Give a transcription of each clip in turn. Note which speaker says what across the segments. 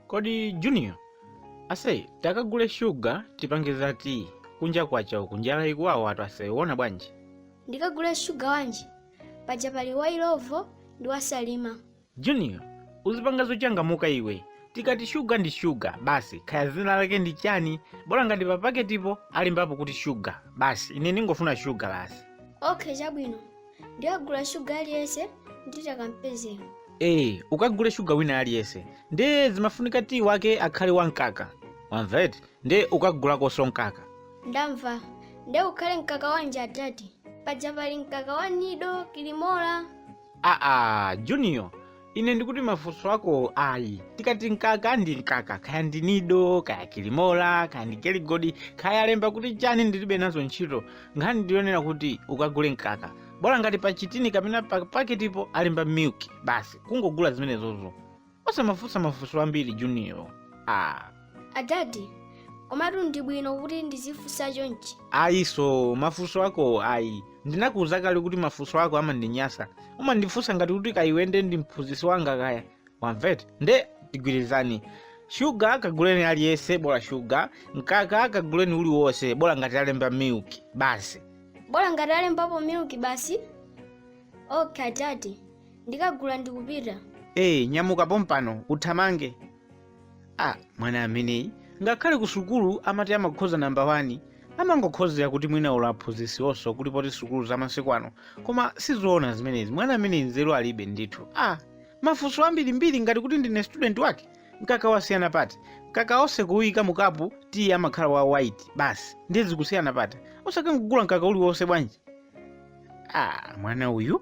Speaker 1: kodi junior aise takagule shuga tipange za tiyi kunja kwacha uku njala ikuwawa atu aise wona bwanji ndikagule shuga wanji paja pali wa ilovo ndi wa salima junior uzipanga zochangamuka iwe tikati shuga ndi shuga basi khaya zina lake ndi chani bola ngati papaketipo alembapo kuti shuga basi ine ndingofuna shuga basi okay chabwino ndikagula shuga aliyense nditakampezele ee ukagule shuga wina aliyense nde zimafunika tiyi wake akhale wamkaka wamva eti nde ukagulakonso mkaka ndamva nde ukhale mkaka wanji adadi paja pali mkaka wa nido kilimola aa junior ine ndikuti mafunso ako ayi tikati mkaka ndi mkaka kaya ndi nido kaya kilimola kaya ndi geligodi kaya alemba kuti chani ndilibe nazo ntchito nkhani ndi yonena kuti ukagule mkaka bola ngati pa chitini kapena pa paketipo alemba milk basi kungogula zimenezozo osamafunsa mafunso ambiri junior ah. adadi komatu ndi bwino kuti ndizifunsa chonchi aise mafunso ako ayi ndinakuuza kale kuti mafunso ako amandinyasa umandifunsa ngati kuti kaya iwe nde ndi mphunzitsi wanga kaya wamva eti nde tigwirizane shuga kaguleni aliyense bola shuga mkaka kaguleni uliwonse bola ngati alemba milk basi bola ngati alembapo milk basi ok adadi ndikagula ndikupita ee nyamuka pompano uthamange a mwana ameneyi ngakhale ku sukulu amati amakhoza namba 1 amangokhozera kuti mwina ulo aphunzitsiwonso kulibe poti sukulu za masiku ano koma sizoona zimenezi mwana ameneyi nzeru alibe ndithu a mafunso ambirimbiri ngati kuti ndine student wake mkaka wasiyana pati mkaka wonse kuwuyika mukapu tiyi amakhala wa white basi ndiye zikusiyana pati osakangogula mkaka uliwonse bwanji a mwana uyu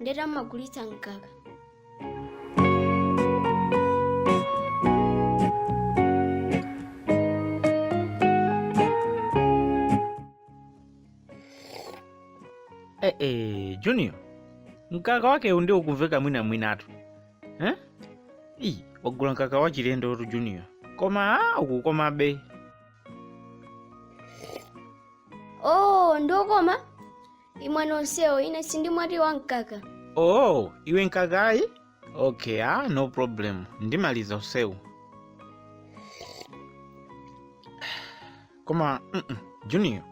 Speaker 1: nde ntamva magulitsa mkaka Eh, eh, Junior, mkaka wakeu nde ukumveka mwina mwinatu eh? Iyi, wagula mkaka wa chilendo tu Junior, koma ah, ukukomabe oh ndi wokoma imwani wonsewu ine sindimwa tiyi wamkaka oh iwe mkaka ayi okay ah no problem ndimaliza wonsewu koma mm -mm, junior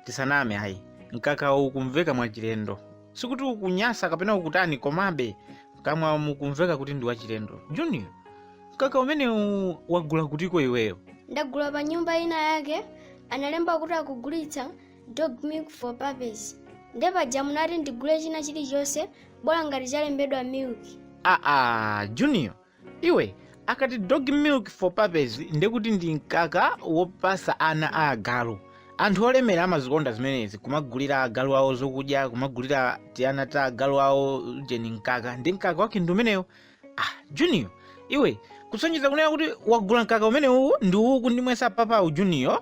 Speaker 1: tisaname ayi mkaka ukumveka mwachilendo sikuti ukunyasa kapena ukutani komabe mkamwamu ukumveka kuti ndi wachilendo junior mkaka umenewu wagula kutiko iweyo ndagula pa nyumba ina yake analemba kuti akugulitsa dog milk for puppies nde paja munati ndigule china chilichonse bola ngati chalembedwa milk aa junior iwe akati dog milk for puppies ndekuti ndi mkaka wopasa ana a agalu anthu olemera amazikonda zimenezi kumagulira agalu awo zokudya kumagulira tiana ta agalu awo jeni mkaka ndi mkaka wake ndi umenewo ah junior iwe kusonyeza kunena kuti wagula mkaka umenewuwo ndi uwu ukundimwesa papawu junior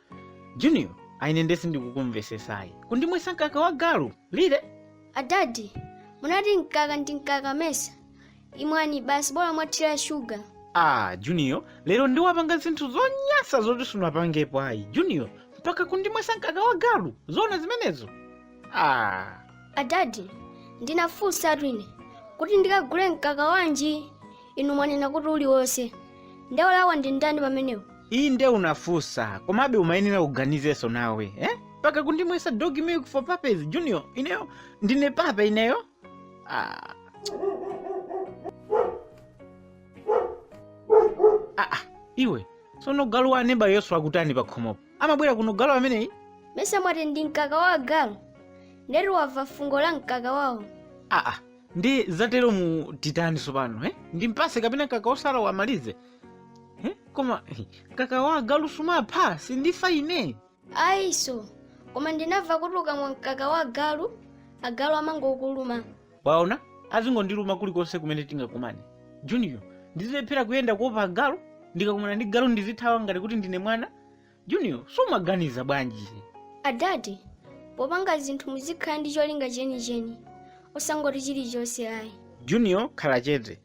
Speaker 1: junior aa ine nde sindikukumvesesa ayi kundimwesa mkaka wa galu really adadi munati mkaka ndi mkaka mesa imwani basi bola mwathira shuga ah junior lero nde wapanga zinthu zonyansa zoti sunapangepo ayi junior mpaka kundimwesa mkaka wa galu zoona zimenezo ah adadi ndinafunsatu ine kuti ndikagule mkaka wanji inu mwanena kuti uliwonse nde wolakwa ndi ndani pamenepo ayi nde unafunsa komabe umayenera kuganizanso nawe eh? mpaka kundimwesa dog milk for puppies junior ineyo ndine puppy ineyo ah. Ah, ah, iwe sono galu wa aneba uyo akutani pa khomopo amabwera kuno galu ameneyi mesa mwati ndi mkaka wa agalu ndekuti wamva fungo la mkaka wawo ah, ah. nde zateromu titani tsopano eh? ndimpase kapena mkaka wosalawo amalize eh? koma eh, mkaka wa agalu sumapha sindifa ine ayinso koma ndinamva kuti ukamwa mkaka wa galu agalu amangokukuluma waona azingondiluma kulikonse kumene tingakumane junior ndizilephera kuyenda kuopa agalu ndikakumana ndi galu ndizithawa ngati kuti ndine mwana junior sumaganiza bwanji adadi popanga zinthu muzikhala ndi cholinga chenicheni osangoti chilichonse ayi junior khala chete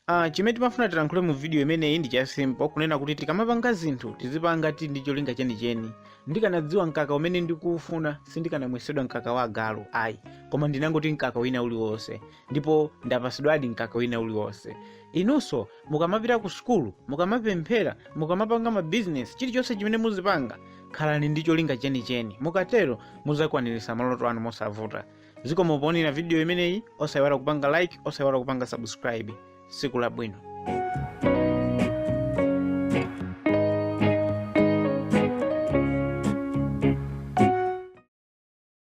Speaker 1: uh, chimene timafuna tilankhule mu vidiyo imeneyi ndi cha simple kunena kuti tikamapanga zinthu tizipanga tili ndi cholinga chenicheni ndikanadziwa mkaka umene ndikuufuna sindikanamwesedwa mkaka wa agalu ayi koma ndinangoti mkaka wina uliwonse ndipo ndapatsidwadi mkaka wina uliwonse inunso mukamapita ku sukulu mukamapemphera mukamapanga mabizinesi chilichonse chimene muzipanga khalani ndi cholinga chenicheni mukatero muzakwaniritsa maloto anu mosavuta zikomo poonera vidiyo imeneyi osayiwala kupanga like osayiwala kupanga subscribe siku labwino